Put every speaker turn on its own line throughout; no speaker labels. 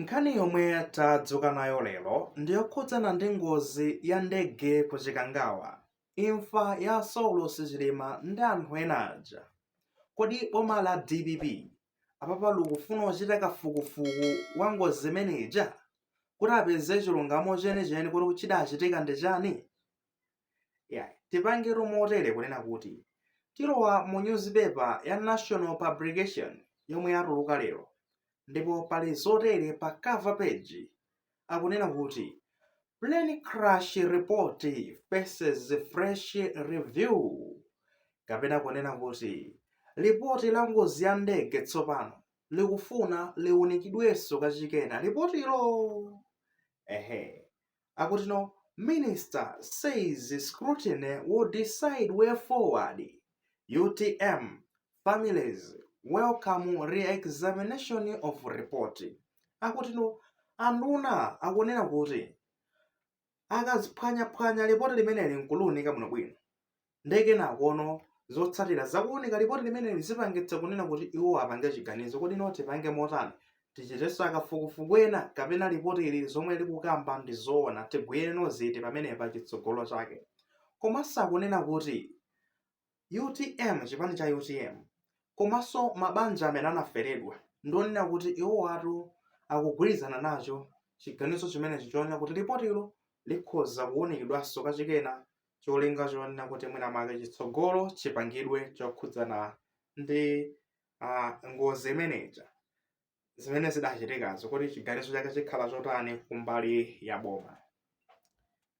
Nkhani yomwe tadzuka nayo lero ndi yokhudzana ndi ngozi ya ndege ku Chikangawa, imfa ya Saulos Chilima ndi anthu ena aja. Kodi boma la dpp apapa likufuna kuchita kafukufuku wa ngozi imene ija kuti apeze chilungamo chenicheni kuti chidachitika ndi chani? Iyayi, tipange motere kunena kuti tilowa mu newspaper ya National Publication yomwe yatuluka lero ndipo pali zotere pa cover page, akunena kuti Plane Crash Report Faces Fresh Review kapena kunena kuti Lipoti la ngozi ya ndege tsopano likufuna liunikidwenso kachikena. Lipotilo? Ehe, akuti no minister says scrutiny will decide way forward utm families welcome re-examination of report akuti no anduna akunena kuti akaziphwanyaphwanya lipoti limeneli nkuluunika bwinobwino Ndiye kenakono zotsatira za kuunika lipoti limeneli zipangitsa kunena kuti iwo apange chiganizo kuti no tipange motani tichitenso kafukufuku ena kapena lipoti ili zomwe likukamba ndi zoona tigwire no ziti pamenepa chitsogolo chake komanso akunena kuti utm chipani cha utm komanso mabanja amene anaferedwa ndi onena kuti iwo ati akugwirizana nacho chiganizo chimenechi chonena kuti lipotilo likhoza kuunikidwanso kachikena cholinga chonena kuti mwina mwake chitsogolo chipangidwe chokhudzana ndi ah, ngozi imeneja zimene zidachitikazo kuti chiganizo chake chikhala chotani kumbali ya boma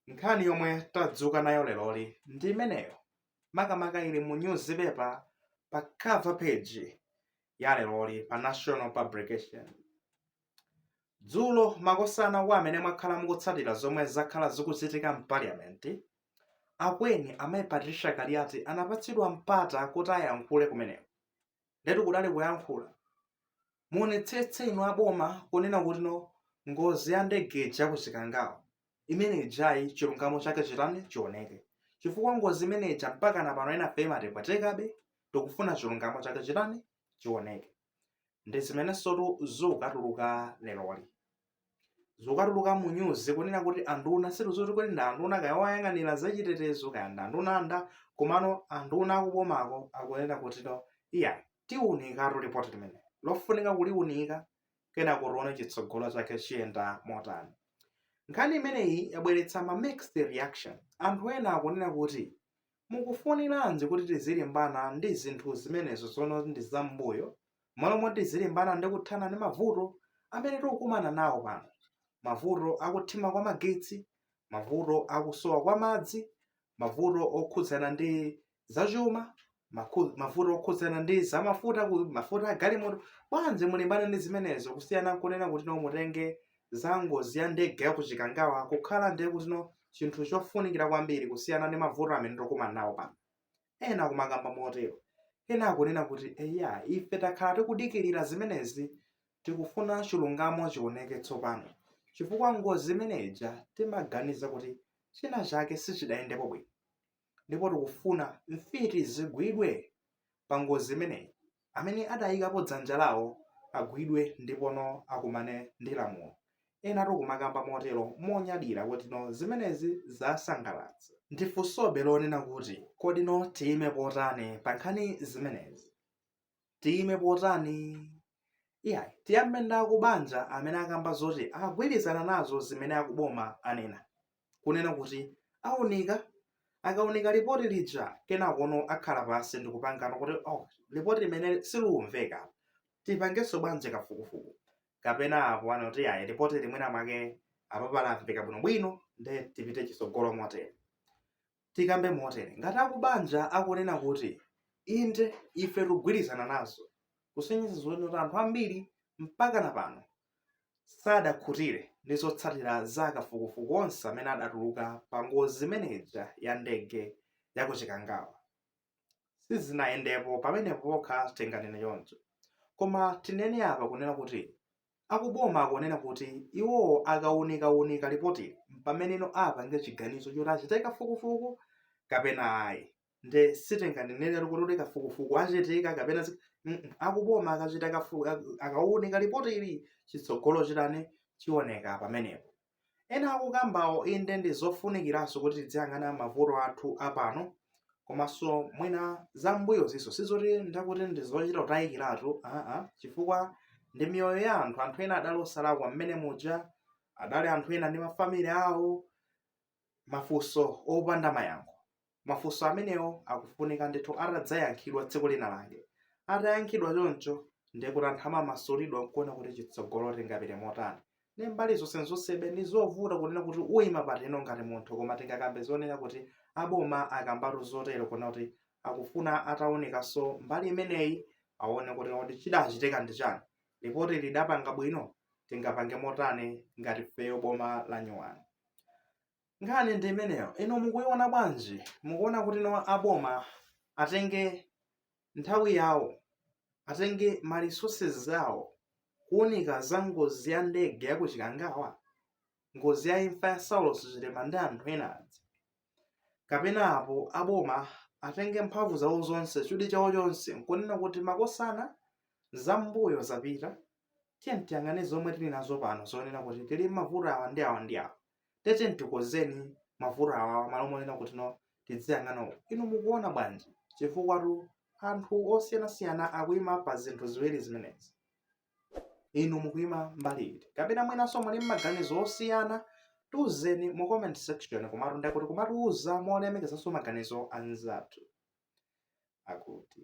nkhani yomwe tadzuka nayo leroli ndi imeneyo makamaka ili mu newspaper pa cover page ya leroli pa national publication Dzulo makosana kwa amene mwakhala mukutsatira zomwe zakhala zikuchitika m'Parliament, Akweni a Mayi Patricia Kaliati anapatsidwa mpata kuti ayankhule kumeneko. Ndetu kudali kuyankhula. Muonetsetse inu a boma kunena kuti no ngozi ya ndege ija ku Chikangawa imene ijayi chilungamo chake chitani chioneke. Chifukwa ngozi imene ija mpakana pano enafe imatipwetekabe tikufuna chilungamo chake chitani chioneke. ndi zimenensotu zikutuluka leroli zikutuluka mu news kunena kuti anduna situziti kuti ndi anduna kaya oyang'anira zachitetezo kaya ndi anduna anda komano anduna akubomako akunena kuti no iyayi tiunikatu lipoti limene lofunika kuliunika kenako tione chitsogolo chake chiyenda motani nkhani imeneyi yabweretsa ma mixed reaction anthu ena akunena kuti Mukufuniranji kuti tizilimbana ndi zinthu zimenezo zomwe ndi zam'mbuyo, m'malo moti tizilimbana ndi kuthana ndi mavuto amene tikukumana nawo pano, mavuto a kuthima kwa magetsi, mavuto a kusowa kwa madzi, mavuto okhudzana ndi zachuma, mavuto okhudzana ndi za mafuta, mafuta a galimoto? Bwanji mulimbane ndi zimenezo kusiyana n'kunena kutino mutenge za ngozi ya ndege ya ku Chikangawa kukhala ndiye kutino chinthu chofunikira kwambiri kusiyana ndi mavuto amene tikukumana nawo pano. Ena kumakamba motero. Ena akunena kuti eya ife takhala tikudikirira zimenezi tikufuna chilungamo chioneke tsopano. Chifukwa ngozi imene ija timaganiza kuti china chake sichidayendepo bwino. ndipo tikufuna mfiti zigwidwe pa ngozi imeneyi. Amene adayikapo dzanja lawo agwidwe ndipono akumane ndi lamulo. Enatu kumakamba motero monyadira kutino zimenezi zasangalatsa. Ndifunsobe lonena kuti, kodino tiyime potani pa nkhani zimenezi? tiyime potani? Iyayi, tiyambe ndi akubanja amene akamba zoti akugwirizana nazo zimene akuboma anena, kunena kuti aunika, akaunika lipoti lija kenakono akhala pansi ndikupangana kuti lipoti limeneli silikumveka, tipangenso bwanji kafukufuku? Kapena apo aona kuti ayi, lipotili mwina mwake apapa lamveka bwinobwino nde tipite chitsogolo motere. Tikambe motere, ngati akubanja akunena kuti inde ife tikugwirizana nazo kusonyeza zonena kuti anthu ambiri mpaka na pano sadakhutire ndi zotsatira za kafukufuku onse amene adatuluka pa ngozi imene ija ya ndege ya ku Chikangawa. Sizinayendepo pamenepo pokha tinganene choncho. Koma tinene apa kunena kuti Akuboma akunena kuti iwowo akaunikaunika lipotili m'pameneno apange chiganizo choti achite kafukufuku kapena ayi nde sitinganeneretu kuti kafukufuku achitika kapena ayi akuboma akachita akaunika lipotili chitsogolo chitani chioneka pamenepo. Ena akukambawo inde ndi zofunikiranso kuti tidziyang'ana mavuto athu a pano komanso mwina za m'mbuyozinso. Si zoti ndakuti ndi zochita kutayikiratu, aa, chifukwa ndi miyoyo ya anthu. Anthu ena adali osalakwa mmene muja, adali anthu ena ndi mafamili awo, mafunso opanda mayankho. Mafunso amenewo akufunika ndithu atadzayankhidwa tsiku lina lake. Atayankhidwa choncho, ndiye kuti anthu amamasulidwa n'kuona kuti chitsogolo tingapite motani. Ndi mbali zonsenzonsebe, ndi zovuta kunena kuti uima patino ngati munthu, koma tingakambe zonena kuti aboma akambatu zotero kunena kuti akufuna ataunikanso mbali imeneyi aone kuti kodi chidachitika ndi chani, lipoti lidapanga bwino, tingapange motani ngati ifeyo boma lanyuwani. Nkhani ndi imeneyo. Inu mukuiona bwanji? Mukuona kuti no aboma atenge nthawi yawo, atenge ma resources zawo kuunika za ngozi ya ndege ya ku Chikangawa, ngozi ya imfa ya Saulos Chilima ndi anthu ena aja? Kapena apo aboma atenge mphamvu zawo zonse, chidwi chawo chonse kunena kuti makosana, zambuyo zapita, tiyeni tiyang'ane zomwe tili nazo pano zonena kuti tili m'mavuto awa ndi awa ndi awa. Tiyeni tikonzeni mavuto awawa malo monena kuti no tidziyang'ana uku. Inu mukuona bwanji? Chifukwatu anthu osiyanasiyana akuima pa zinthu ziwiri zimenezi. Inu mukuima mbali iti? Kapena mwinanso muli ndi maganizo osiyana? Tiuzeni mu comment section komatu ndiye kuti kumatiuza molemekezanso maganizo a anzathu akuti.